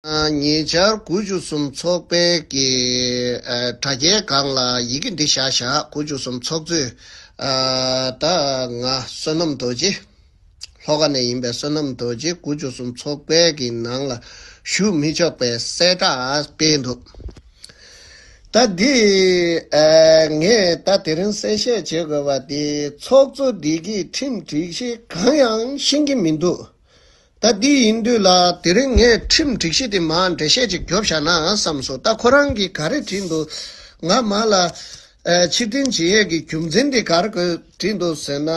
ཉེ་ཆར་དགུ་བཅུ་གསུམ་ཚོགས་པའི་ཀྱི་དྲ་རྒྱའི་སྒང་ལ་ཡི་གེ་འདི་བཞག་བཞག་དགུ་བཅུ་གསུམ་ཚོགས་གཙོས་ད་ང་བསོད་ནམས་རྡོ་རྗེ། ལྷོ་ཁ་ནས་ཡིན་པའི་བསོད་ནམས་རྡོ་རྗེ་དགུ་བཅུ་གསུམ་ཚོགས་པའི་ཀྱི་ནང་ལ་ཞུགས་མི་ཆོག་པའི་གསལ་བསྒྲགས་སྤེལ་འདུག་ད་འདི་ངས་ད་དེ་རིང་གསལ་བཤད་བྱེད་དགོས་པ་འདི་ཚོགས་གཙོ་འདི་གིས་ཁྲིམས་སྒྲིག་གཞི་གང་ཡང་ཤེས་ཀྱི་མི་འདུག། ད་འདི་ཡིན་དུས་ལ་དེ་རིང་ངས་ཁྲིམས་སྒྲིག་གཞི་དེ་མར་འགྲེལ་བཤད་ཅིག་རྒྱོབས་བཞག་ན་བསམས་སོ་ད་ཁོ་རང་གིས་ག་རེ་བྲིས་འདུག་ང་མར་ལ། ཕྱིར་དྲན་བྱེད་ཡས་ཀྱི་རྒྱུ་མཚན་དེ་གར་བཀོད་བྲིས་འདུག་ཟེར་ན།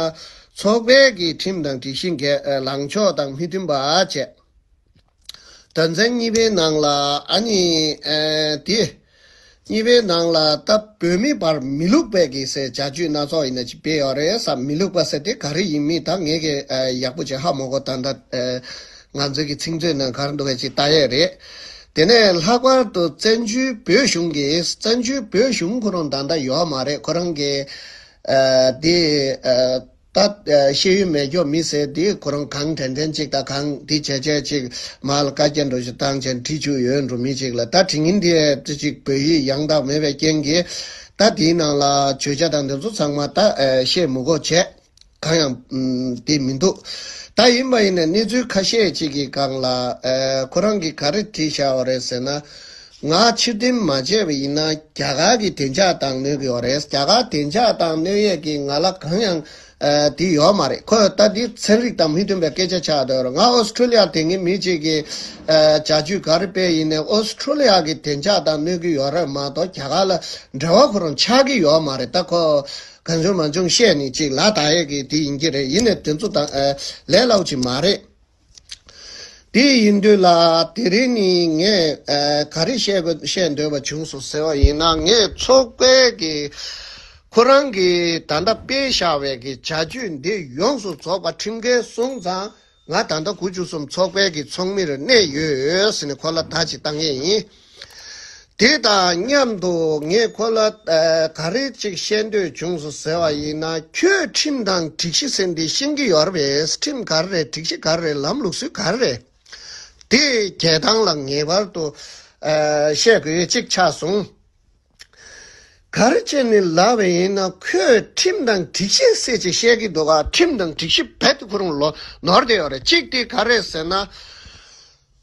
ཚོགས་པའི་ཀྱི་ཁྲིམས་དང་སྒྲིག་གཞི་འགས་ལངས་ཕྱོགས་དང་མི་མཐུན་པ་བྱས། དོན་ཚན་གཉིས་པའི་ནང་ལ་ཨ་ནི། དེ། གཉིས་པའི་ནང་ལ་ད་བོད་མི་བར་མི་ལུགས་པའི་གི་སའི་བྱ་སྤྱོད་སྣ་ཚོགས་ཡིན་ན་ཅི་བེད་ཡོད་རེད་བསམ་མི་ལུགས་པ་ཟེར་ཏེ་ག་རེ་ཡིན་མིན་ད་ངས་གི་ཡག་པོ་བྱེད་ཧ་མོ་གོ་ད་ད་ང་ཚོའི་གི་ཚིག་མཛོད་ནང་གར་འདུག་གི་ཅི་ད་ཡས་རེད་དེ་ནས་ལྷག་པར་དུ་བཙན་བྱོལ་བོད་གཞུང་གི་བཙན་བྱོལ་བོད་གཞུང་ཁོ་རང་ད་ད་ཡོད་མ་རེད་ཁོ་རང་གི་དེ། ད། ཤེས་ཡོན་མེད་ཀྱོ་མི་ཟེར་དུས་ཁོ་རང་གང་དྲན་དྲན་ཅིག་ད་གང་དེ་བྱས་བྱས་ཅིག་མ་ལ་བཀའ་རྒྱ་འགྲོ་བཞིན་བཏང་བྱས་ཁྲིད་བྱུག་ཡོད་འགྲོ་མི་ཅིག་ལ་ད་དྲི་ངན་དེ་ཅི་ཅིག་བོད་ཡིག་ཡང་དག་མེད་པའི་རྐྱེན་གྱིས་ད་དེའི་ནང་ལ་བྱོས་བྱ་དང་འདི་ཚོ་ཚང་མ་ད་བཤད་མུ་གོ་བྱས་གང་ཡང་དེ་མི་འདུག་ད་ཡིན་པ་ཡིན་ནས་གནས་ཚུལ་ཁ་ཤས་ཅིག་གི་སྒང་ལ་ཁོ་རང་གིས་ག་རེ་བྲིས་བཞག་བ་རེད་ཟེར་ན། ང་ཕྱིར་འཐེན་མ་བྱས་པ་ཡིན་ན་རྒྱ་གར་གྱི་བདེ་འཇགས་ཏང་གནོད་གི་ཡོད་རེད་རྒྱ་གར་བདེ་འཇགས་ཏང་གནོད་ཡས་ཀྱི་ང་ལ་གང་ཡང་དེ་ཡོད་མ་རེད་ཁོས་ལྟ་དེ་ཚན་རིག་དང་མི་མཐུན་པའི་སྐད་ཆ་ཆགས་སྡོད་རེད་ང་ཨོ་སི་ཁྲུ་ལི་ཡར་དེ་སྔའི་མི་གཅིག་གི་བྱ་སྤྱོད་ག་རེ་སྤེལ་ཡིན་ནས་ཨོ་སི་ཁྲུ་ལི་ཡ་གི་བདེ་འཇགས་ཏང་གནོད་གི་ཡོད་རེད་མ་གཏོགས་རྒྱ་གར་ལ་འབྲེལ་བ་ཁོ་རང་ཆགས་ཀྱི་ཡོད་མ་རེད་ད་ཁོས་གང་བྱུང་མ་བྱུང་བཤད་ནི་གཅིག་ལ་དག་ཡས་ཀྱི་དེ་ཡིན་གྱི་རེད་ཡིན་ནས་དེ་ཚོ་དང་ལས་སླ་བོ་ཅིག་མ་རེད། དེ་ཡིན་དུས་ལ་དེ་རིང་ནི་ངས་ག་རེ་བཤད་འདོད་པ་བྱུང་སོང་ཟེར་བ་ཡིན་ན་ངས་ཚོགས་དཔལ་གྱིས་ཁོ་རང་གི་ད་ལྟ་སྤེལ་བཞག་བའི་གི་བྱ་སྤྱོད་འདི་ཡོངས་སུ་རྫོགས་པ་ཁྲིམས་འགལ་སོང་ཙང་ང་ད་ལྟ་དགུ་བཅུ་གསུམ་ཚོགས་དཔལ་གྱི་ཚོགས་མིར་གནས་ཡོད་ཟེར་ནས་ཁོ་ལ་ད་ཅི་བཏང་ཡས་ཡིན། དེ་དང་མཉམ་དུ་ངས་ཁོ་ལ་ག་རེ་ཅིག་བཤད་འདོད་བྱུང་སོང་ཟེར་བ་ཡིན་ན་ཁྱོས་ཁྲིམས་དང་སྒྲིག་གཞི་ཟེར་འདི་ཤེས་ཀྱི་ཡོད་རེད་ཁྲིམས་ག་རེ་རེད་སྒྲིག་གཞི་ག་རེ་རེད་ལམ་ལུགས་སྲོལ་ག་རེ་རེད་དེ་རྒྱལ་ཐང་ལ་ངེས་པར་དུ་བཤད་དགོས་གཅིག་ཆགས་སོང། ག་རེ་བྱས་ནས་ལབ་པ་ཡིན་ན་ཁོས་ཁྲིམས་དང་སྒྲིག་གཞི་ཟེར་ཅིག་བཤད་ཀྱི་འདུག་ག་ཁྲིམས་དང་སྒྲིག་གཞི་རྦད་དེ་ཁོ་རང་ལོ་ནོར་དེ་ཡོད་རེད་གཅིག་དེ་ག་རེ་ཟེར་ན།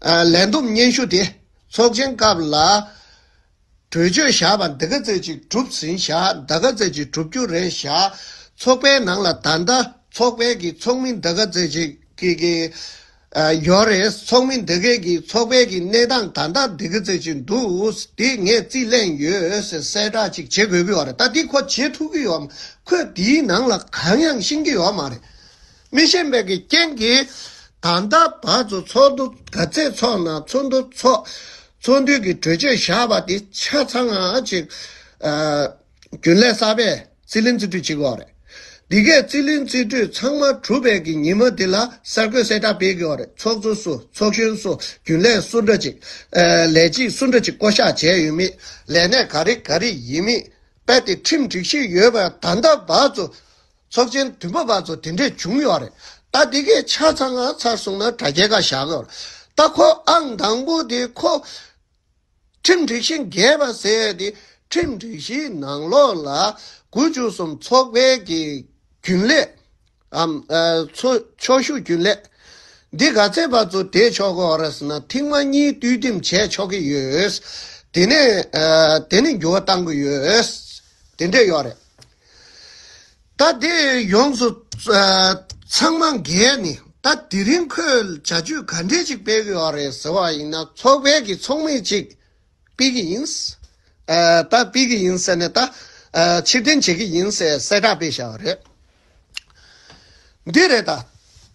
ལན་གཏུམ་སྙན་ཞུ་དེ་ཚོགས་ཆེན་སྐབས་ལ་གྲོས་ཆོད་བཞག་པ་འདི་ག་ཚོད་ཅིག་གྲུབ་ཟིན་བཞག་འདའ་ག་ཚོད་ཅིག་གྲུབ་རྒྱུ་རེད་བཞག་ཚོགས་པའི་ནང་ལ་ད་ལྟ་ཚོགས་པའི་གི་ཚོགས་མི་འདའ་ག་ཚོད་ཅིག་གི་གི་ཡོད་རེད་ཚོགས་མི་འདའ་གའི་གི་ཚོགས་པའི་གི་གནས་སྟངས་ད་ལྟ་འདི་ག་ཚོད་ཅིག་འདུག་འདི་ངས་རྩིས་ལེན་ཡོད་ཟེར་གསལ་བསྒྲགས་ཅིག་བྱེད་དགོས་གི་ཡོད་རེད་ད་འདི་ཁོ་བྱེད་ཐུབ་གི་ཡོད་མ་ཁོས་འདིའི་ནང་ལ་གང་ཡང་ཤེས་ཀྱི་ཡོད་མ་རེད། མི་ཤེས་པའི་གི་རྐྱེན་གྱིས། ད་ལྟ་བར་དུ་ཚོགས་འདུ་ག་ཚད་ཚོགས་ན་ཚོགས་འདུ་ཚོགས། ཚོགས་འདུའི་གི་གྲོས་ཆོད་བཞག་པ་དེ་ཆ་ཚང་ཅིག། རྒྱུན་ལས་གསར་པས་རྩིས་ལེན་རྩིས་སྤྲོད་བྱེད་དགོས་པ་རེད། འདི་གའི་རྩིས་ལེན་རྩིས་སྤྲོད་ཚང་མ་གྲུབ་པའི་གི་ཉིན་མ་དེ་ལ་གསར་འགོད་གསལ་བསྒྲགས་སྤེལ་དགོས་པ་རེད་ཚོགས་གཙོ་སུ་ཚོགས་གཞོན་སུ་རྒྱུན་ལས་སུ་འདྲ་ཅིག། ལས་བྱེད་སུ་འདྲ་ཅིག་བསྐོ་བཞག་བྱས་ཡོད་མེད་ལས་གནས་ག་རེ་ག་རེ་ཡིན་མིན་རྦད་དེ་ཁྲིམས་སྒྲིག་ཞིག་ཡོད་པ་ད་ལྟ་བར་དུ་ཚོགས་ཆེན་དུས་བབ་བར་དུ་དེ་འདྲས་བྱུང་ཡོད་རེད་ད་དེ་གའི་ཆ་ཚང་ང་ཚར་སོང་ན་དྲ་རྒྱའི་ཁ་བཞག་གི་རེད་ད་ཁོ་ཨང་དང་པོ་དེ་ཁོ་ཁྲིམས་སྒྲིག་གཞི་འགལ་བ་ཟེར་དེ་ཁྲིམས་སྒྲིག་གཞིའི་ནང་ལོགས་ལ་དགུ་བཅུ་གསུམ་ཚོགས་པའི་གི་རྒྱུན་ལས་ཨམ། ཚོ་ཕྱོགས་ཞུགས་རྒྱུན་ལས་འདི་ག་ཚད་བར་དུ་དེ་ཆོག་གི་རེད་ཟེར་ན་ཐེངས་མ་གཉིས་བསྟུད་འདེམས་བྱས་ཆོག་གི་ཡོད་དེ་ནས་དེ་ནས་འགྱུར་བ་གཏང་གི་ཡོད་དེ་འདྲས་ཡོད་རེད། ད་དེ་ཡོངས་སུ་ཚང་མ་འགལ་ནི་ད་དེ་རིང་ཁོས་བྱ་སྤྱོད་ག་འདྲས་ཅིག་སྤེལ་གི་ཡོད་རེད་ཟེར་བ་ཡིན་ན་ཚོགས་པའི་གི་ཚོགས་མི་ཅིག་སྤེལ་གི་ཡིན། ད་སྤེལ་གི་ཡིན་ཟེར་ནས་ད་ཕྱིར་འཐེན་བྱེད་ཀྱི་ཡིན་ཟེར་གསལ་བསྒྲགས་སྤེལ་བཞག་པ་རེད། འདི་རེད་ད།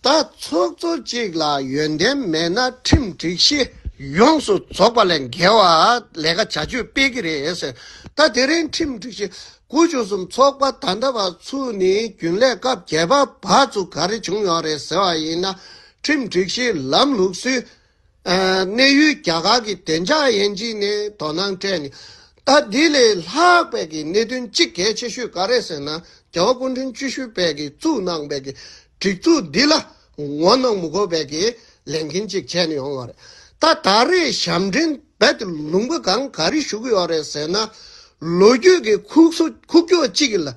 ད་ཚོགས་གཙོ་གཅིག་ལ་ཡོན་ཏན་མེད་ན་ཁྲིམས་སྒྲིག་གཞི་ཡོངས་སུ་རྫོགས་པ་ལས་འགལ་བ་ལས་ཀ་བྱ་སྤྱོད་སྤེལ་གི་རེད་ཟེར། ད་དེ་རིང་ཁྲིམས་སྒྲིག་གཞི་དགུ་བཅུ་གསུམ་ཚོགས་པ་ད་ལྟ་བར་ཚུ་ནི་རྒྱུན་ལས་སྐབས་བརྒྱད་པ་བར་ཚུ་ག་རེ་བྱུང་ཡོང་རེད་ཟེར་བ་ཡིན་ན་ཁྲིམས་སྒྲིག་གཞིའི་ལམ་ལུགས་སུའི་གནས་ཡུལ་རྒྱ་གར་གྱི་བདེ་འཇགས་དབྱེ་འབྱེད་ནས་དོ་སྣང་སྤྲད་ནས། ད་དེ་ལས་ལྷག་པའི་གི་གནད་དོན་གཅིག་གལ་ཆེ་ཤོས་ག་རེད་ཟེར་ན་རྒྱལ་བ་སྐུ་འཕྲེང་བཅུ་ཤུ་པས་གི་བཙུགས་གནང་པའི་གི་སྒྲིག་འཛུགས་འདི་ལ་ངོ་གནོང་མི་དགོས་པའི་གི་ལས་འགན་གཅིག་བྱས་ནས་ཡོང་བ་རེད། ད་ད་རེས་ཞབས་འདྲེན་རྦད་དེ་ལུང་པ་གང་ག་རེ་ཞུ་གི་ཡོད་རེད་ཟེར་ན། ལོ་རྒྱུས་གི་ཁུག་སོ་ཁུག་ཀྱོག་གཅིག་གི་ལ།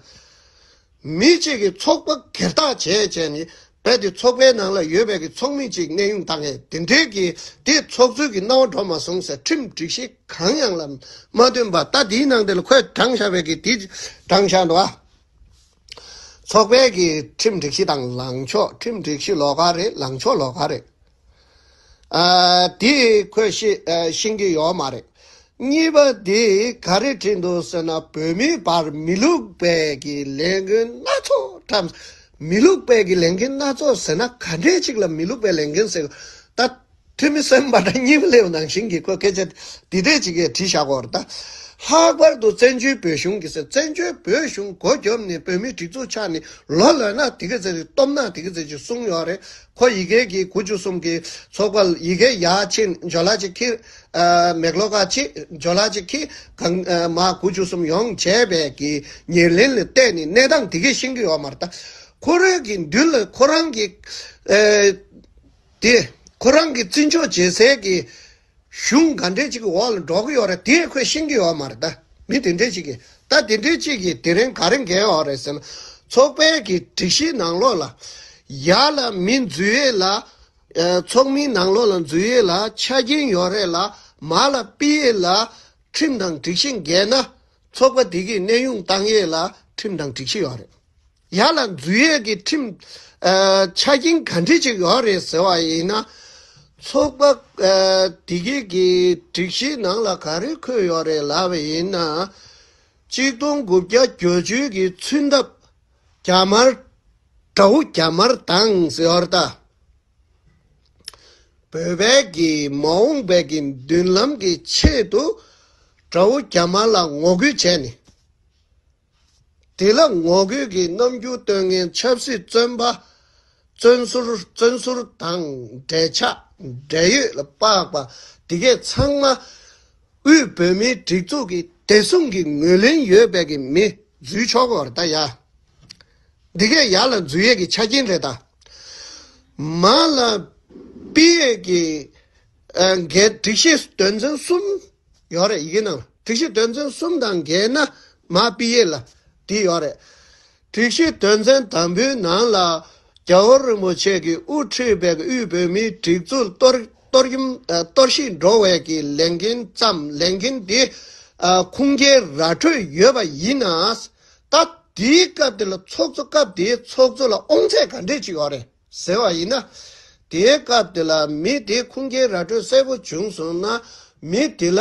མི་གཅིག་གིས་ཚོགས་པ་གེར་བཏགས་བྱས་བྱས་ནས་རྦད་དེ་ཚོགས་པའི་ནང་ལ་ཡོད་པའི་གི་ཚོགས་མི་གཅིག་གནས་དབྱུང་བཏང་ངེས་དེ་འབྲེལ་གི་དེ་ཚོགས་གཙོས་གི་གནང་བ་འགྲོ་མ་སོང་ཟེར་ཁྲིམས་སྒྲིག་གཞི་གང་ཡང་ལ་མ་བཏོན་པར་ལྟ་དེའི་ནང་དེ་ལ་ཁོས་བགྲང་བཞག་པའི་གི་དེ་བགྲང་བཞག་འགྲོ། ཚོགས་པའི་གི་ཁྲིམས་སྒྲིག་གཞི་དང་ལངས་ཕྱོགས་ཁྲིམས་སྒྲིག་གཞི་ལོགས་ཀ་རེད་ལངས་ཕྱོགས་ལོགས་ཀ་རེད། དེ་ཁོས་ཤེས་ཀྱི་ཡོད་མ་རེད། གཉིས་པ་དེ་ག་རེ་བྲིས་འདུག་ཟེར་ན་བོད་མིའི་བར་མི་ལུགས་པས་ཀྱི་ལས་འགན་སྣ་ཚོགས་བཀྲམས། མི་ལུགས་པས་ཀྱི་ལས་འགན་སྣ་ཚོགས་ཟེར་ན་ག་འདྲས་ཅིག་ལ་མི་ལུགས་པའི་ལས་འགན་ཟེར། ད་ཐོན་མི་སེམས་པ་འདྲ་གཉིས་པ་སླེབས་ནང་བཞིན་གྱི་ཁོས་སྐད་ཆ་འདི་འདྲས་ཅིག་གིས་བྲིས་བཞག་གོ། ད་ལྷག་པར་དུ་བཙན་བྱོལ་བོད་གཞུང་གིས་བཙན་བྱོལ་བོད་གཞུང་གོ་རྒྱོབ་ནས་བོད་མིའི་སྒྲིག་འཛུགས་ཆགས་ནས་ལོ་ལོན་ན་དེ་གི་ཟེར་ཅིག་སྟོབས་ན་དེ་གི་ཟེར་ཅིག་གསུངས་ཡོད་རེད། ཁོ་ཡི་གེ་གི་གུ་བཅུ་གསུམ་གྱི་ཚོགས་པ་ཡི་གེ་ཡ་ཆིན་ཇོ་ལ་ཅི་ཁི། མེག་ལོ་ཀ་ཆིན་ཇོ་ལ་ཅི་ཁི་གང་མ་གུ་བཅུ་གསུམ་ཡོངས་བྱས་པས་ཀྱི་ཉེར་ལེན་ལ་བལྟས་ནས་གནས་དང་དེ་ཀའི་ཤིང་གི་ཡོ་མར་བལྟ། ཁོ་རོད་ཀྱི་མདུན་ལ་ཁོ་རང་གི། དེ་ཁོ་རང་གི་བརྩི་འཇོག་བྱེད་སའི་ཀྱི། གཞུང་ག་འདྲའི་ཅིག་གི་འོག་ལ་འགྲོ་གི་ཡོད་རེད་དེ་ཁོས་ཤེས་ཀྱི་ཡོད་མ་རེད་ད། མི་དེ་འདྲའི་ཅིག་གིས་ད་དེ་འདྲའི་ཅིག་གིས་དེ་རིང་ག་རེ་འགལ་ཡོད་རེད་ཟེར་ན། ཚོགས་པའི་གི་སྒྲིག་གཞིའི་ནང་ལོགས་ལ། ཡ་ལ་མི་འཛུལ་ཡས་ལ། ཚོགས་མིའི་ནང་ལོགས་ལ་འཛུལ་ཡས་ལ་ཆ་རྐྱེན་ཡོད་རེད་ལ་མ་ལ་སྤི་ཡས་ལ། ཁྲིམས་དང་སྒྲིག་གཞི་འགལ་ན། ཚོགས་པ་དེ་གིས་གནས་དབྱུང་བཏང་ཡས་ལ་ཁྲིམས་དང་སྒྲིག་གཞི་ཡོད་རེད། ཡ་ལ་འཛུལ་ཡས་ཀྱི་ཁྲིམས་ཆ་རྐྱེན་ག་འདྲི་ཅིག་ཡོད་རེད་ཟེར་བ་ཡིན་ན། ཚོགས་པ་དེ་གས་ཀྱི་སྒྲིག་གཞིའི་ནང་ལ་ག་རེ་འཁོད་ཡོད་རེད་ལབ་པ་ཡིན་ན། གཅིག་སྟོང་དགུ་བརྒྱ་གྱོ་བཅུ་གྱི་ཚུན་ཐབ་རྒྱ་དམར་དགྲ་བོ་རྒྱ་དམར་དང་ཟེར་ད། བོད་པས་ཀྱི་མ་འོངས་པའི་ཀྱི་མདུན་ལམ་གྱི་ཆེད་དུ་དགྲ་བོ་རྒྱ་དམར་ལ་ངོ་རྒོལ་བྱས་ནས། དེ་ལ་ངོ་རྒོལ་གྱི་རྣམ་འགྱུར་སྟོན་མཁན་ཆབ་སྲིད་བཙོན་པ། བཙོན་ཟུར་བཙོན་ཟུར་དང་འབྲེལ་ཆགས་འབྲེལ་ཡོད་ལ་དཔགས་པ་དེ་གས་ཚང་མ་དབུས་བོད་མིའི་སྒྲིག་འཛུགས་ཀྱི་བདེ་སྲུང་གི་ངོས་ལེན་ཡོད་པའི་གི་མི་འཛུལ་ཆོག་གོ་ར་ད་ཡ། འདི་གས་ཡ་ལ་འཛུལ་ཡས་ཀྱི་ཆ་རྐྱེན་རེད་ད། མ་ལ་དཔེ་ཡས་ཀྱི་འགས་སྒྲིག་གཞི་དོན་ཚན་གསུམ་ཡོད་རེད་ཡིན་ནམ་དྲུག་བཞི་དོན་ཚན་གསུམ་དང་འགལ་ན་མ་དཔེ་ཡིད་ལ་དེ་ཡོད་རེད། དྲུག་བཞི་དོན་ཚན་དང་པོའི་ནང་ལ་རྒྱ་བོད་རིན་པོ་ཆེ་གི་དབུ་ཁྲིད་པའི་དབུས་བོད་མིའི་སྒྲིག་འཛུགས་གཏོར་བཤིག་འགྲོ་བའི་གི་ལས་འགན་ཙམ་ལས་འགན་དེ་ཁུངས་སྐྱེལ་ར་འཕྲོད་ཡོད་པ་ཡིན་ན། ད་དེའི་སྐབས་དེ་ལ་ཚོགས་གཙོ་སྐབས་དེའི་ཚོགས་གཙོ་ལ་ཨོང་ཚད་ག་འདྲས་ཅིག་ཡོད་རེད། ཟེར་བ་ཡིན་ན། དེའི་སྐབས་དེ་ལ་མི་དེའི་ཁུངས་སྐྱེལ་ར་སྤྲོད་གསལ་པོ་བྱུང་སོང་ན། མི་དེ་ལ་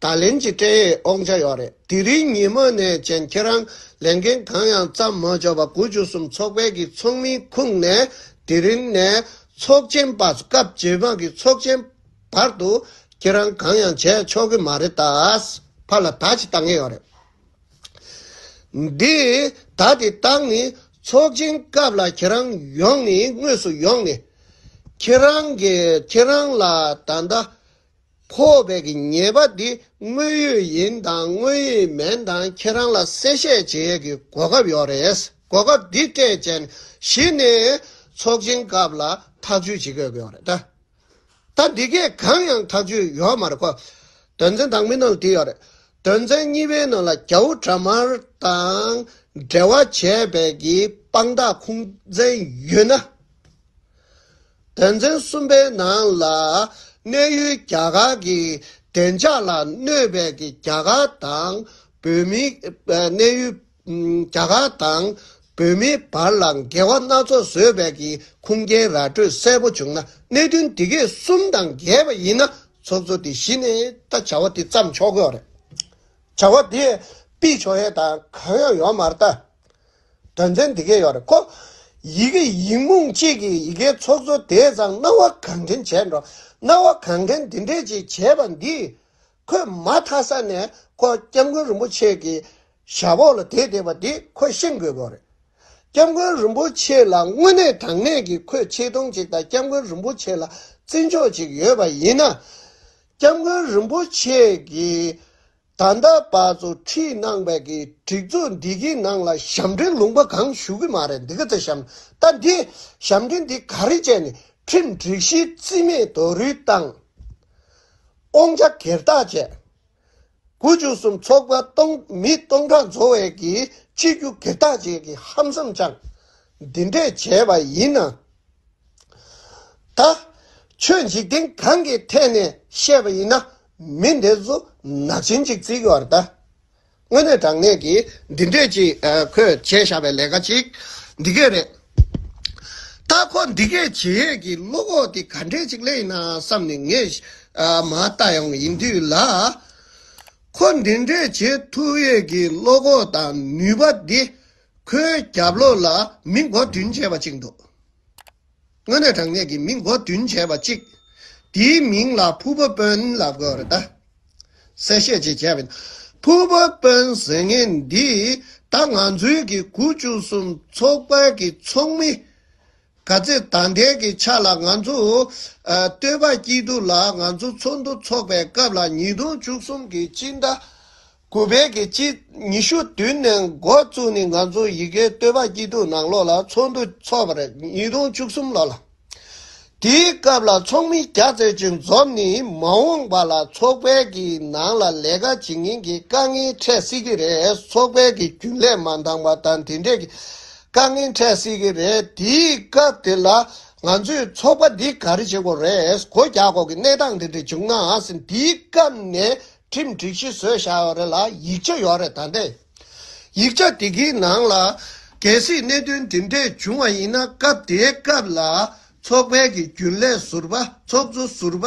ད་ལན་གྱི་སྤྲད་ཡས་ཨོག་འཇགས་ཡོད་རེད། དེ་རིང་ཉིན་མོ་ནས་བཅས་ཁྱེད་རང་ལས་འགན་གང་ཡང་བརྩམས་མ་བཅོག་པར་དགུ་བཅུ་གསུམ་ཚོགས་པའི་གི་ཚོགས་མིའི་ཁུངས་ནས་དེ་རིང་ནས་ཚོགས་ཆེན་པ་སྐབས་ཇེ་མང་གི་ཚོགས་ཆེན་བར་དུ་ཁྱེད་རང་གང་ཡང་བྱས་ཆོག་གི་མ་རེད་ད། ཕར་ལ་ད་ཅི་ལྟ་ངེས་ཡོད་རེད། འདི་ད་དེ་བཏང་ནས་ཚོགས་ཆེན་སྐབས་ལ་ཁྱེད་རང་ཡོང་ནས་དངོས་སུ་ཡོང་ནས་ཁྱེད་རང་གི་ཁྱེད་རང་ལ་ད་ལྟ་ཕོག་པའི་གི་ཉེས་པ་འདི་དངོས་ཡོད་ཡིན་དང་དངོས་ཡོད་མེན་དང་ཁྱེད་རང་ལ་གསལ་བཤད་བྱེད་གི་གོ་སྐབས་ཡོག་རེད་གོ་སྐབས་འདི་སྤྲད་ཅན་གཞི་ནས་ཚོགས་ཆེན་སྐབས་ལ་ཐག་གཅོད་བྱེད་གི་ཡོག་རེད། ད་འདི་སྐད་གང་ཡང་ཐག་གཅོད་ཡོག་མ་རེད་ཁོ། དོན་ཚན་དང་མི་ནང་དེ་ཡོག་རེད། དོན་ཚན་གཉིས་པའི་ནང་ལ་རྒྱ་བོ་དྲ་དམར་དང་འབྲེལ་བ་བྱས་པའི་གི་དཔང་རྟགས་ཁུངས་བཙན་ཡོད་ན། དོན་ཚན་གསུམ་པའི་ནང་ལ་གནས་ཡུལ་རྒྱ་གར་གི་བདེ་འཇགས་ལ་གནོད་པའི་གི་རྒྱ་གར་དང་བོད་མིའི་གནས་ཡུལ་རྒྱ་གར་དང་བོད་མིའི་བར་ལ་འགལ་བ་སྣ་ཚོགས་བཟོས་པའི་གི་ཁུངས་སྐྱེལ་ར་སྤྲོད་གསལ་པོ་བྱུང་ན་གནད་དོན་འདི་གས་གསུམ་དང་འགལ་བ་ཡིན་ན་ཚོགས་གཙོ་དེ་གཞི་ནས་ད་བྱ་བ་དེ་བརྩམས་ཆོག་གི་རེད། བྱ་བ་དེ་སྤེལ་ཆོག་ཡས་དང་གང་ཡང་ཡོད་མ་རེད། དོན་ཚན་འདི་གས་ཡོད་རེད་ཁོ། ཡི་གེ་ཡིག་རྨོངས་གཅིག་གིས་ཡི་གེའི་ཚོགས་གཙོ་དེས་ཙང་སྣང་བ་གང་དྲན་བྱས་འགྲོ། སྣང་བ་གང་དྲན་དེ་འདྲས་ཅིག་བྱས་པ་འདིས་ཁོས་མ་ཐག་ས་ནས་ཁོ་སྐྱབས་མགོན་རིན་པོ་ཆེ་གི་ཞབས་འོག་ལ་དེད་བསྡད་པ་དེ་ཁོས་ཤེས་དགོས་པ་རེད། སྐྱབས་མགོན་རིན་པོ་ཆེ་ལ་དངོས་གནས་དྲང་གནས་ཀྱི་ཁོས་ཆེ་མཐོང་ཅིག་དང་སྐྱབས་མགོན་རིན་པོ་ཆེ་ལ་བརྩི་འཇོག་ཅིག་ཡོད་པ་ཡིན་ན། སྐྱབས་མགོན་རིན་པོ་ཆེ་གིས་ད་ལྟ་བར་དུ་ཁྲིད་གནང་བའི་གི་སྒྲིག་འཛུགས་འདི་གི་ནང་ལ་ཞབས་འདྲེན་ལུང་པ་གང་ཞུ་གི་མ་རེད་འདི་ག་ཚོད་ཞབས་ད་འདི་ཞབས་འདྲེན་འདི་ག་རེ་བྱས་ནས་ཁྲིམས་སྒྲིག་གཞི་རྩིས་མེད་དོ་རུས་བཏང། སྟོང་ཆ་གེར་བརྟག་བྱས། དགུ་བཅུ་གསུམ་ཚོགས་པ་སྟོང་མི་སྟོང་ཕྲག་འཛོ་བས་ཀྱི་ཆིག་བརྒྱུད་གེར་བརྟག་བྱས་ཀྱི་ཧམ་བསམ་བཅངས། འདི་འདྲས་བྱས་པ་ཡིན་ན། ད། ཆོས་འཇིག་རྟེན་གང་གི་ཐད་ནས་བཤད་པ་ཡིན་ན་མི་འདི་ཚོ་ནག་ཆེན་གཅིག་བརྩིགས་ཡོད་རེད་ད། དངོས་གནས་དྲང་གནས་ཀྱི་འདི་འདོད་ཅིག་ཁོས་བྱས་བཞག་པའི་ལས་ཀ་ཅིག་འདི་སྐད་རེད། ད་ཁོ་འདི་སྐད་བྱེད་ཡས་ཀྱི་བློ་ཁོག་དེ་ག་འདྲས་ཅིག་སླེ་ཡིན་ན་བསམ་ནས་ངས་མ་ལྟ་ཡོང་ཡིན་དུས་ལ། ཁོ་འདི་འདྲས་བྱེད་ཐུབ་ཡས་ཀྱི་བློ་ཁོག་དང་ནུས་པ་འདི་ཁོའི་རྒྱབ་ལོགས་ལ་མི་མགོ་བདུན་བཅས་པ་ཅིག་འདུག། དངོས་གནས་དྲང་གནས་ཀྱི་མིང་སྒོ་བསྟུན་བྱས་པ་གཅིག། དེའི་མིང་ལ་ཕུ་བོ་དཔོན་ལ་གོ་རེ་ད། གསལ་བཤད་ཅིག་བྱས་པས་ན། ཕུ་བོ་དཔོན་ཟེར་མཁན་འདི་ད་ང་ཚོའི་གི་གུ་བཅུ་གསུམ་ཚོགས་པའི་གི་ཚོགས་མི། ག་ཚེ་ད་ལྟའི་གི་ཆ་ལ་ང་ཚོ་སྟོད་པ་སྐྱིད་སྡུག་ལ་ང་ཚོ་ཚོགས་འདུ་ཚོགས་པའི་སྐབས་ལ་ཉིས་སྟོང་བཅུ་གསུམ་གི་སྤྱི་ཟླ་གུ་བལ་གྱི་དཔྱིད་ཉི་ཤུ་བདུན་ནས་འགོ་བཙུགས་ནས་ང་ཚོ་ཡི་གེའི་བསྟོད་པ་སྐྱིད་སྡུག་ནང་ལོགས་ལ་ཚོགས་འདུ་འཚོགས་པར་ཉིས་སྟོང་བཅུ་གསུམ་ལོ་ལ། དེའི་སྐབས་ལ་ཚོགས་མི་བརྒྱ་བརྩེགས་ཅིག་འཛོམས་ནས་མ་འོངས་པ་ལ་ཚོགས་པའི་གི་ནང་ལ་ལས་ཀ་བྱེད་མཁན་གྱི་དཀའ་ངལ་འཕྲད་སྲིད་ཀྱི་རེད་ཚོགས་པའི་གི་རྒྱུན་ལས་མ་འདང་པ་དང་དེ་འདྲས་ཀྱི་དཀའ་ངལ་འཕྲད་སྲིད་ཀྱི་རེད་དེའི་སྐབས་དེ་ལ་ང་ཚོས་ཚོགས་པ་འདི་ག་རེ་བྱེད་དགོས་རེད་གོ་རྒྱག་དགོས་ཀྱི་གནས་སྟངས་དེ་འདྲས་བྱུང་ནའང་སྲིད་དེའི་སྐབས་ནས་ཁྲིམས་སྒྲིག་གཞི་བཟོས་བཞག་ཡོད་རེད་ལ་ཡིག་ཆ་ཡོད་རེད་ད་དེ། ཡིག་ཆ་དེ་གའི་ནང་ལ་གལ་སྲིད་གནད་དོན་འདི་འདྲས་བྱུང་བ་ཡིན་ན་སྐབས་དེའི་སྐབས་ལ་ཚོགས་པའི་གི་རྒྱུན་ལས་ཟུར་པ་ཚོགས་གཙོ་ཟུར་པ།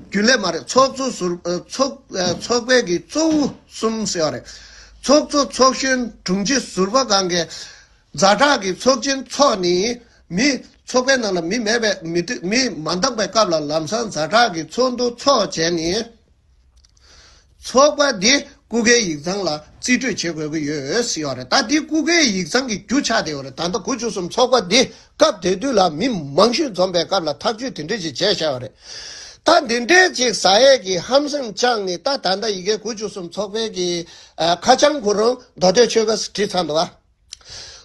རྒྱུན་ལས་མ་རེད་ཚོགས་གཙོ་ཟུར་ཚོགས་པའི་གི་གཙོ་བོ་གསུམ་ཟེར་ཡོད་རེད། ཚོགས་གཙོ་ཚོགས་གཞོན་དྲུང་ཆེ་ཟུར་པ་གང་གི་རྫ་བྲག་གི་ཚོགས་ཆེན་འཚོགས་ནས་མི། ཚོགས་པའི་ནང་ལ་མི་མེད་པས་མི་སྟོད་མི་མ་འདག་པའི་སྐབས་ལ་ལམ་སང་རྫ་བྲག་གི་ཚོགས་འདུ་འཚོགས་བྱས་ནས། ཚོགས་པ་འདི་སྐུ་སྒེར་ཡིག་ཚང་ལ་རྩིས་སྤྲོད་བྱེད་དགོས་ཀྱི་ཡོད་སྲིད་ཡོད་རེད་ད་འདི་སྐུ་སྒེར་ཡིག་ཚང་གི་རྒྱུ་ཆ་དེ་ཡོད་རེད་ད་ལྟ་དགུ་བཅུ་གསུམ་ཚོགས་པ་འདི་སྐབས་དེ་དུས་ལ་མི་མང་ཤོས་འཛོམས་པའི་སྐབས་ལ་ཐག་གཅོད་དེ་འདྲས་ཅིག་བྱས་བཞག་ཡོད་རེད། ད་འདི་འདྲས་ཅིག་བཟའ་ཡས་ཀྱི་ཧམ་སེམས་བཅངས་ནས་ད་ད་ལྟ་ཡི་གེ་དགུ་བཅུ་གསུམ་ཚོགས་པའི་གི་ཁ་བྱང་གུ་རུ་མདོ་སྟོད་ཆོལ་ཁ་སི་ཁྲི་ཚང་དུ་བ།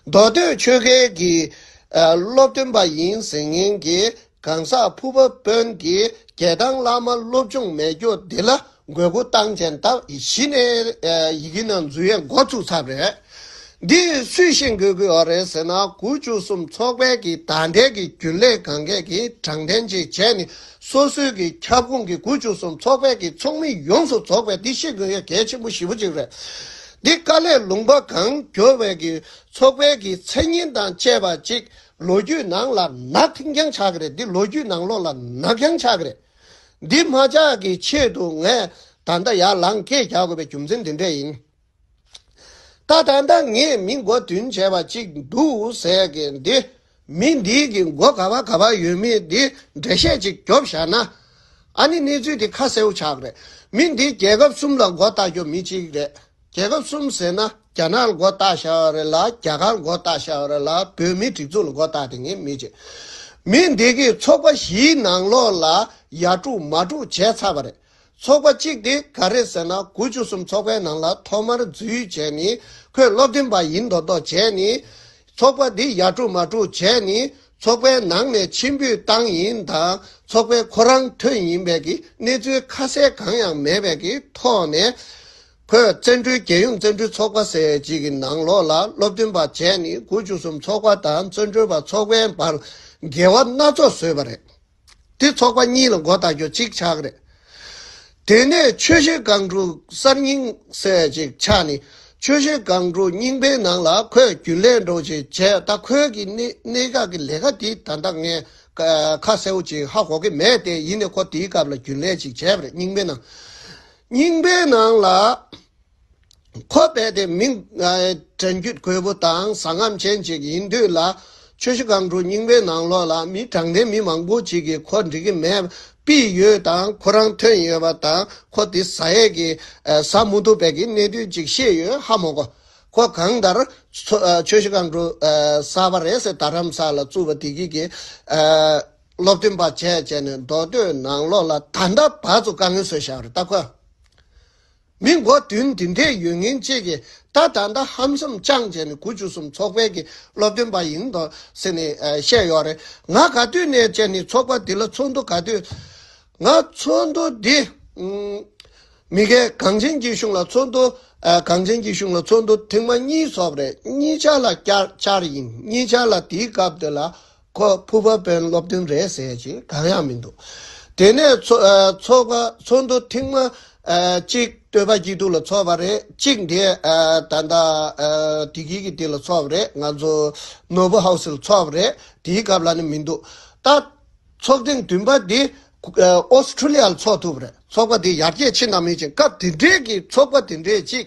མདོ་སྟོད་ཆོལ་ཁའི་གྱི་སློབ་སྟོན་པ་ཡིན་ཟེར་མཁན་གྱི་གང་ཟག་ཕུར་པ་དཔོན་གྱི་རྒྱལ་ཐང་བླ་མ་སློབ་ཆུང་མེད་རྒྱུ་འདི་ལ་དགོས་མཁོ་བཏང་ཆེན་ལྟ་གཞི་ནས་ཡི་གེ་ནང་འཛུལ་ཡས་འགོ་ཚུགས་ཚར་རེད། འདི་སུས་ཤེས་དགོས་ཀྱི་ཡོད་རེད་ཟེར་ན་དགུ་བཅུ་གསུམ་ཚོགས་པའི་གྱི་དག་འབྲེལ་གྱི་རྒྱུན་ལས་གང་མཁས་ཀྱི་དྲང་བདེན་ཅིག་བྱས་ནས་སོ་སོའི་གྱི་ཁྱབ་ཁོངས་ཀྱི་དགུ་བཅུ་གསུམ་ཚོགས་པའི་གྱི་ཚོགས་མི་ཡོངས་སུ་རྫོགས་པའི་འདི་ཤེས་དགོས་ཡས་གལ་ཆེན་པོ་བཞི་པོ་ཅིག་རེད། འདི་དཀའ་ལས་ལུང་པ་གང་གྱོ་བའི་གི་ཚོགས་པའི་གི་མཚན་སྙན་དང་བཅས་པ་ཅིག་ལོ་རྒྱུས་ནང་ལ་ནག་འགྱང་ཆག་གི་རེད་འདི་ལོ་རྒྱུས་ནང་ལོག་ལ་ནག་འགྱང་ཆག་གི་རེད། འདི་མ་ཆག་གི་ཆེད་དུ་ངས་ད་ལྟ་ཡར་ལངས་སྐད་རྒྱག་དགོས་པའི་རྒྱུ་མཚན་འདི་འདྲས་ཡིན། ད་ད་ལྟ་ངས་མི་མགོ་བདུན་བྱས་པ་ཅིག་འདུག་ཟེར་གི་འདི་མི་འདི་གི་མགོ་ག་བ་ག་བ་ཡོད་མེད་འདི་འགྲེལ་བཤད་ཅིག་རྒྱོབ་བཞག་ན། ཨ་ནི་གནས་ཚུལ་དེ་ཁ་གསལ་བོ་ཆགས་རེད། མི་འདི་རྒྱལ་ཁབ་གསུམ་ལ་མགོ་བཏགས་རྒྱོབ་མི་གཅིག་རེད། རྒྱལ་ཁབ་གསུམ་ཟེར་ན་རྒྱ་ནག་ལ་མགོ་བཏགས་བཞག་བ་རེད་ལ་རྒྱ་གར་མགོ་བཏགས་བཞག་བ་རེད་ལ་བོད་མི་སྒྲིག་འཛུགས་ལ་མགོ་བཏགས་དེ་ངེས་མི་གཅིག། མི་འདི་གི་ཚོགས་པ་བཞིའི་ནང་ལོགས་ལ་ཡ་དཀྲུགས་མ་དཀྲུགས་བྱས་ཚར་བ་རེད། ཚོགས་པ་གཅིག་དེ་ག་རེད་ཟེར་ན་དགུ་བཅུ་གསུམ་ཚོགས་པའི་ནང་ལ་ཐོག་མར་འཛུལ་བྱས་ནི་ཁོས་བློ་བདེན་པ་ཡིན་མདོག་མདོག་བྱས་ནི། ཚོགས་པ་འདི་ཡར་དཀྲུགས་མར་དཀྲུགས་བྱས་ནས་ཚོགས་པའི་ནང་ནས་ཕྱིར་འབུད་བཏང་ཡིན་དང་ཚོགས་པའི་ཁོ་རང་ཐོན་ཡིན་པའི་གི་གནས་ཚུལ་ཁ་གསལ་གང་ཡང་མེད་པའི་གི་ཐོག་ནས། ཁོས་བཙན་བྲོལ་རྒྱལ་ཡུམ་བཙན་བྲོལ་ཚོགས་པ་ཟེར་གཅིག་གི་ནང་ལོགས་ལ་སློབ་སྟོན་པ་བྱས་ནས་དགུ་བཅུ་གསུམ་ཚོགས་པ་དང་བཙོན་གྲོལ་བ་ཚོགས་པའི་བར་འགལ་བ་སྣ་ཚོགས་བཟོས་པ་རེད། དེ་ཚོགས་པ་གཉིས་ལ་མགོ་བཏགས་རྒྱུ་གཅིག་ཆགས་རེད། དེ་ནས་ཆོས་བཤད་སྒང་དྲུག་གསར་རྙིང་སེ་གཅིག་ཆགས་ནས་ཆོས་བཤད་སྒང་དྲུག་རྙིང་པའི་ནང་ལ་ཁོས་རྒྱུན་ལས་འགྲོ་བྱེད་བྱས་ད་ཁོས་ཀྱི་གནད་འགག་གི་ལས་ཀ་དེ་ད་ལྟ་ངས་ཁ་གསལ་བོ་ཅིག་ཧ་གོ་གི་མེད་དེ་ཡིན་ནས་ཁོ་དེའི་སྐབས་ལ་རྒྱུན་ལས་ཅིག་བྱས་པ་རེད་རྙིང་པའི་ནང་རྙིང་པའི་ནང་ལ། ཁོ་རྦད་དེ་མི་དྲན་རྒྱུད་གོལ་པོ་དང་བཟང་ངམ་ཅན་ཅིག་ཡིན་དུས་ལ། ཆོས་ཞུ་སྒང་དྲུག་རྙིང་པའི་ནང་ལོགས་ལ་མི་དྲང་བདེན་མི་མང་པོ་ཅིག་གིས་ཁོ་འགྲིག་གི་མེད་པི་ཡོད་དང་ཁོ་རང་ཐོན་ཡོད་པ་དང་ཁོ་དེ་ཟ་ཡས་ཀི་ཟ་མུ་ཐུག་བད་ཀི་གནས་དུས་ཅིག་བཤད་ཡོད་ཧ་མོ་གོ། ཁོ་གང་ལྟར་ཆོས་ཞུ་སྒང་དྲུག་གསར་པ་རེད་ཟེར་དར་རམ་ས་ལ་བཙུགས་པ་དེ་གི་གི་སློབ་སྟོན་པ་བྱས་བྱས་ནས་མདོ་སྟོད་ནང་ལོགས་ལ་ད་ལྟ་བར་དུ་དཀའ་ངལ་བཟོས་བཞག་རེད་ད་ཁོ། མི་མགོ་བདུན་འདི་འདྲས་ཡོད་ངེས་བཅས་ཀྱི་ད་ད་ད་ཧམ་གསུམ་རྐྱང་བྱས་ནས་དགུ་བཅུ་གསུམ་ཚོགས་པའི་གི་སློབ་སྟོན་པ་ཡིན་འདོག་ཟེར་ནས་བཤད་ཡོད་རེད་ང་ག་དུས་ནས་བྱས་ནས་ཚོགས་པ་འདི་ལ་ཚོགས་འདུ་ག་དུས་ང་ཚོགས་འདུ་འདི་མི་དགེ་གངས་ཅན་སྐྱིད་གཤོངས་ལ་ཚོགས་འདུ་གངས་ཅན་སྐྱིད་གཤོངས་ལ་ཚོགས་འདུ་ཐེངས་མ་གཉིས་ཚོགས་པ་རེད་གཉིས་ཆ་ལ་བསྐྱར་བསྐྱར་ཡིན་གཉིས་ཆ་ལ་དེའི་སྐབས་དེ་ལ་ཁོ་ཕུ་བ་དཔོན་སློབ་དོན་རེད་ཟེར་གྱི་གང་ཡང་མི་འདུག་དེ་ནས་ཚོགས་པ་ཚོགས་འདུ་ཐེངས་མ་གཅིག་བསྟོད་པ་སྐྱིད་སྡུག་ལ་ཚོགས་པ་རེད་གཅིག་འདི་ད་ལྟ་དེ་དགེ་གི་དེ་ལ་ཚོགས་པ་རེད་ང་ཚོ་ནོར་བུ་ཧའོ་སི་ལ་ཚོགས་པ་རེད་དེའི་སྐབས་ལ་ནི་མི་འདུག་ད་ཚོགས་ཐེངས་བདུན་པ་འདི་ཨོ་སི་ཁྲུ་ལི་ཡ་ལ་ཚོགས་ཐུབ་པ་རེད་ཚོགས་པ་འདི་ཡར་རྒྱས་ཕྱིན་ན་མིན་ཅིང་སྐབས་དེ་འདྲའི་གི་ཚོགས་པ་དེ་འདྲའི་གཅིག་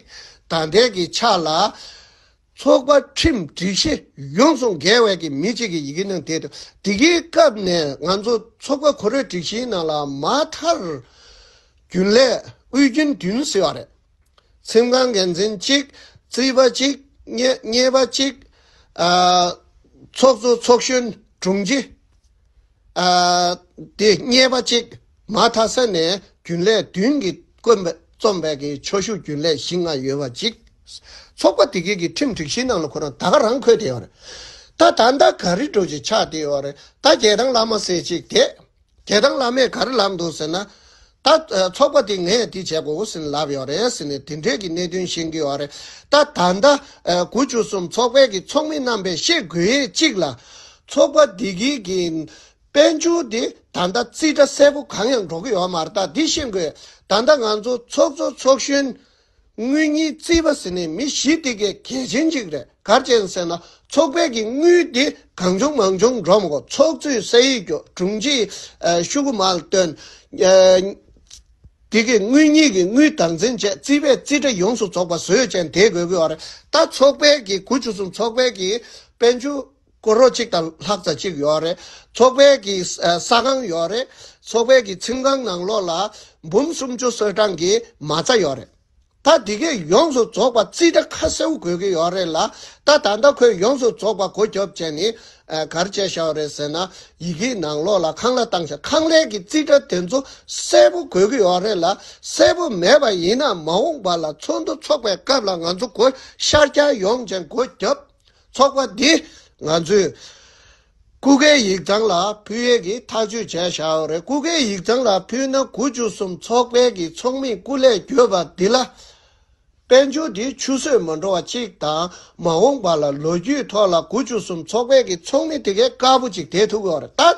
ད་ལྟའི་གི་ཆ་ལ། ཚོགས་པ་ཁྲིམས་སྒྲིག་གཞི་ཡོངས་སུ་འགལ་བས་ཀྱི་མི་གཅིག་གི་ཡི་གེ་ནང་དེ་དང་དེ་གའི་སྐབས་ནས་ང་ཚོ་ཚོགས་པ་གོ་རེ་སྒྲིག་གཞིའི་ནང་ལ་མ་མཐར་རྒྱུན་ལས་དབུས་རྒྱུན་བདུན་ཟེར་བ་རེད། ཁྲིམས་ཁང་འགན་འཛིན་གཅིག་རྩིས་པ་གཅིག་གཉེར་པ་གཅིག། ཚོགས་གཙོ་ཚོགས་གཞོན་དྲུང་ཆེ། དེ་རྙེད་པ་ཅིག་མ་ཐ་ས་ནས་རྒྱུན་ལས་བདུན་གྱི་དཀོན་པའི་རྩོམ་པས་ཀྱི་ཆོ་ཤུགས་རྒྱུན་ལས་བཞི་ལྔ་ཡོད་པ་ཅིག་ཚོགས་པ་དེ་གའི་གི་ཁྲིམས་སྒྲིག་གཞིའི་ནང་ལ་ཁོ་རང་ད་ག་རང་འཁོད་དེ་ཡོད་རེད་ད་ད་ནྡ་ག་རི་གྲོ་ཅིག་ཆགས་དེ་ཡོད་རེད་ད་རྒྱལ་ཐང་བླ་མ་ཟེར་ཅིག་དེ་རྒྱལ་ཐང་བླ་མས་ག་རི་ལབ་འདུག་ཟེར་ན། ད། ཚོགས་པ་དེ་ངས་དེ་བྱེད་དགོས་ཟིན་ལབ་ཡོད་རེད་ཟེར་ནས་དེ་འབྲེལ་གྱི་གནད་དོན་ཤེས་ཀྱི་ཡོད་རེད། ད་ད་ལྟ། དགུ་བཅུ་གསུམ་ཚོགས་པའི་གི་ཚོགས་མི་རྣམས་པས་ཤེས་དགོས་ཡས་གཅིག་ལ། ཚོགས་པ་དེ་གི་གི། དཔལ་འབྱོར་དེ་ད་ལྟ་རྩིས་ཁྲ་གསལ་པོ་གང་ཡང་འགྲོ་གི་ཡོད་མ་རེད་ད་དེ་ཤེས་དགོས། ད་ད་ང་ཚོ་ཚོགས་གཙོ་ཚོགས་གཞོན། དངུལ་གཉིས་རྩིས་པ་ཟེར་ནས་མི་ཞིག་དེ་གའི་གལ་ཆེན་ཞིག་རེད་གར་བྱས་ཟེར་ན་ཚོགས་པས་ཀྱི་དངུལ་དེ་གང་བྱུང་མང་བྱུང་འགྲོ་མི་གོ་ཚོགས་གཙོའི་སྲས་ཡིག་རྒྱོགས་དྲུང་ཆེ་ཤུ་གུ་མཱལ་བཏོན། དེ་གའི་དངུལ་གཉིས་ཀྱི་དངུལ་དག་འཛིན་བྱས་རྩིས་པས་རྩིས་ཁྲ་ཡོངས་སུ་རྫོགས་པ་བཟོས་ཅན་དེ་དགོས་གི་ཨོ་རེད་ད་ཚོགས་པས་ཀྱི་གུ་ཆུ་གསུམ་ཚོགས་པས་ཀྱི་དཔལ་ཆུ། སྐོར་རོགས་གཅིག་དང་ལྷག་ཙ་གཅིག་ཡོད་རེད། ཚོགས་པའི་གི་ས་ཁང་ཡོད་རེད། ཚོགས་པའི་གི་ཚིམ་ཁང་ནང་ལོགས་ལ་འབུམ་སུམ་ཅུ་སོལ་གྲངས་གི་མ་རྩ་ཡོད་རེད། ད་འདི་གས་ཡོངས་སུ་རྫོགས་པ་རྩིས་ཁྲ་ཁ་གསལ་བོ་དགོས་གི་ཡོད་རེད་ལ་ད་ད་ལྟ་ཁོས་ཡོངས་སུ་རྫོགས་པ་གོ་སྐྱོབ་བྱས་ནི་གར་བྱས་ཤའོ་རེད་ཟེར་ན་ཡི་གིའི་ནང་ལོགས་ལ་ཁང་ལ་བཏང་ཤ་ཁང་ལས་གི་རྩིས་ཁྲ་དེ་ཚོ་གསལ་བོ་དགོས་གི་ཡོད་རེད་ལ་གསལ་བོ་མེད་པ་ཡིན་ན་མ་འོངས་པ་ལ་ཚོགས་འདུ་ཚོགས་པའི་སྐབས་ལ་ང་ཚོ་གོ་ཤར་སྐྱ་ཡོངས་ཅན་གོ་སྐྱོབ། ཚོགས་པ་འདི་ང་ཚོས་ཀུ་ཀའི་ཡིག་ཚང་ལ་ཕུལ་ཡས་ཀྱི་ཐག་གཅོད་བྱས་ཤའོ་རེད་ཀུ་ཀའི་ཡིག་ཚང་ལ་ཕུལ་ན་གུ་བཅུ་གསུམ་ཚོགས་པའི་གི་ཚོགས་མིས་ཀུ་ལས་གྱོད་པ་འདི་ལ། དཔལ་འབྱོར་འདི་ཆུ་ཟོས་མ་འགྲོ་བ་གཅིག་དང་མ་འོངས་པ་ལ་ལོ་རྒྱུས་ཐོག་ལ་གུ་བཅུ་གསུམ་ཚོགས་པའི་གི་ཚོགས་མི་དེ་གས་དཀར་པོ་ཅིག་དེད་ཐུབ་ཨོ་རེད་ད།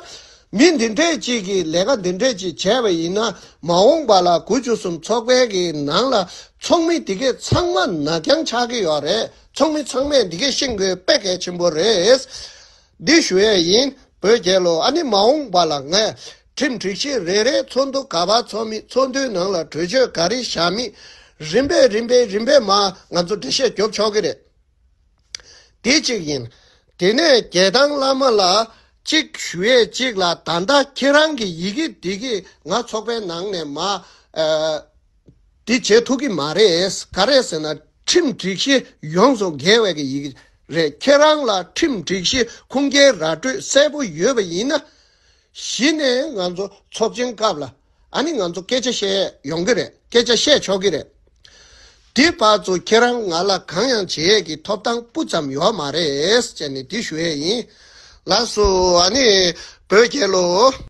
མི་འདི་འདྲས་ཅིག་གིས་ལས་ཀ་འདི་འདྲས་ཅིག་བྱས་པ་ཡིན་ན་མ་འོངས་པ་ལ་གུ་བཅུ་གསུམ་ཚོགས་པའི་གི་ནང་ལ་ཚོགས་མི་དེ་གས་ཚང་མ་ནག་རྐྱང་ཆགས་ཀྱི་ཡོད་རེད། ཚོགས་མི་ཚང་མས་འདི་སྐད་ཤེས་དགོས་དཔེ་གལ་ཆེན་པོ་རེད། འདི་ཞུ་ཡས་ཡིན་བོད་རྒྱལ་ལོ་ཨ་ནི་མ་འོངས་པ་ལ་ངས་ཁྲིམས་སྒྲིག་གཞི་རེ་རེ་ཚོགས་འདུ་ག་པར་ཚོགས་མི་ཚོགས་འདུའི་ནང་ལ་གྲོས་ཆོད་ག་རེ་བཞག་མི་རིམ་པས་རིམ་པས་རིམ་པས་མ་ང་ཚོ་འགྲེལ་བཤད་རྒྱོབ་ཆོག་གི་རེད། དེ་གཅིག་ཡིན། དེ་ནས་རྒྱལ་ཐང་བླ་མ་ལ་གཅིག་ཞུ་ཡས་གཅིག་ལ་ད་ལྟ་ཁྱེད་རང་གི་ཡི་གེ་འདི་གིས་ང་ཚོགས་པའི་ནང་ནས་མ་དེ་བྱེད་ཐུབ་ཀྱི་མ་རེད། ག་རེད་ཟེར་ན་ཁྲིམས་སྒྲིག་གཞི་ཡོངས་སུ་འགལ་བའི་གི་ཡི་གི་རེད། ཁྱེད་རང་ལ་ཁྲིམས་སྒྲིག་གཞི་ཁུངས་སྐྱེལ་ར་སྤྲོད་གསལ་པོ་ཡོད་པ་ཡིན་ན། གཞི་ནས་ང་ཚོ་ཚོགས་ཆེན་སྐབས་ལ་ཨ་ནི་ང་ཚོ་སྐད་ཆ་བཤད་ཡོང་གི་རེད་སྐད་ཆ་བཤད་ཆོག་གི་རེད། དེ་བར་དུ་ཁྱེད་རང་ང་ལ་གང་ཡང་བྱེད་ཡས་ཀྱི་ཐོབ་ཐང་སྤུ་ཙམ་ཡོད་མ་རེད་ཅེས་ནས་དེ་ཞུ་ཡས་ཡིན། ལགས་སོ་ཨ་ནི་བོད་རྒྱལ་ལོ།